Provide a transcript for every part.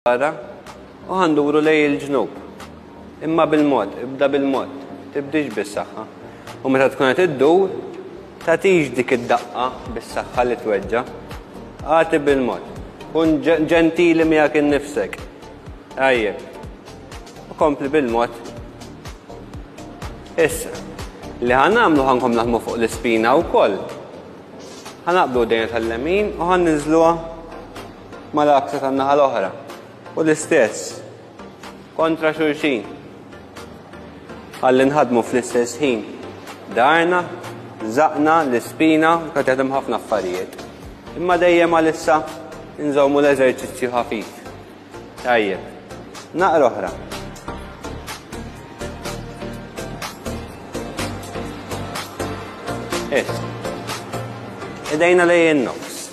Wara, u ħanduru lej il-ġnub. Imma bil-mod, ibda bil-mod, tibdix bis-saħħa. U meta tkun qed iddur, tatix dik id-daqqa bis-saħħa li tweġġa. Għati bil-mod. Kun ġentili miegħek innifsek. Ajje. U kompli bil-mod. Issa, li ħan nagħmlu ħankom naħmu fuq l-ispina wkoll. Ħanaqbdu dejna tal-lemin u ħan niżluha mal-akta tan-naħa l-oħra u l-istess kontra xulxin. Għalli nħadmu fl-istess ħin darna, zaqna, l-ispina, kont jaħdem ħafna affarijiet. Imma dejjem għalissa nżommu l-eżerċizzju ħafif. Tajjeb, naqra oħra. Issa. Idejna lejn nofs.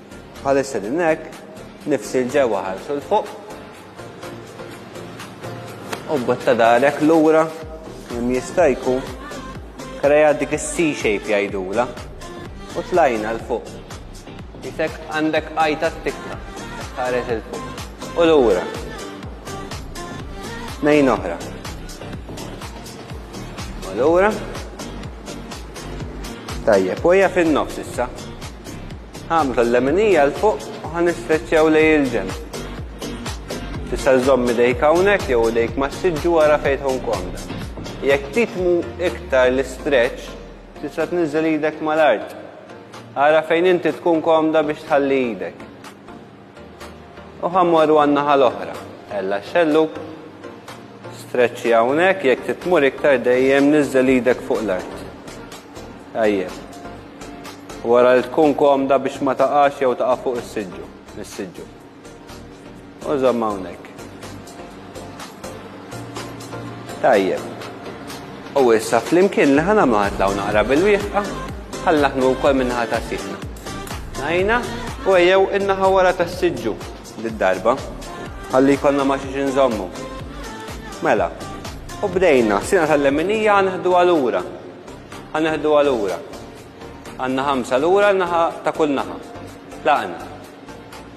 Bħalissa qegħdin hekk, nifsi l-ġewwa ħarsu l-fuq. U botta darek lura kemm jista' jkun kreja dik is-C shape jgħidula u tlajna l-fuq. Jisek għandek għajta t-tikka, ħares il-fuq. U l-ura. Nejn oħra. U l-ura. Tajjeb, u hija fin-nofs issa. Ħammsu l-leminija 'l fuq u ħa nistreċċjaw lejn il-ġenb. Tista' żżomm idejk hawnhekk jew idejk mas-siġġu ara fejn tkun komda. Jekk titmu iktar l-istretch, tista' tniżżel idek mal-art. Ara fejn inti tkun komda biex tħalli idek. U ħammorru għan-naħa l-oħra. Ella xelluk. Streċċi hawnhekk jekk titmur iktar dejjem niżżel idek fuq l-art. Tajjeb. Wara li tkun komda biex ma taqax jew taqa' fuq is-siġġu, mis-siġġu. U żomm hawnhekk. Tajjeb. U issa flimkien li ħana maħat law naqra bil-wieħqa, ħallaħnu wkoll minnaħa ta' siħna. Najna, u ejjew innaħa wara ta' siġġu d-darba. Ħalli jkollna ma xiex inżommu. Mela, u bdejna, sina tal-leminija ħanħdu għalura. Ħanħdu għalura. Għanna ħamsa l-ura naħa ta' kull naħa. Laqna.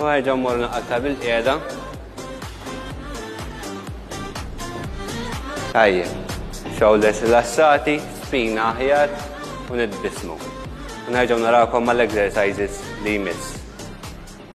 U ħerġa' mmorru naqaltha bilqiegħda. Tajjeb. Shoulders rilassati, spina aħjar u nitbissmu. U nerġgħu narawkom mal-exercises li jmiss.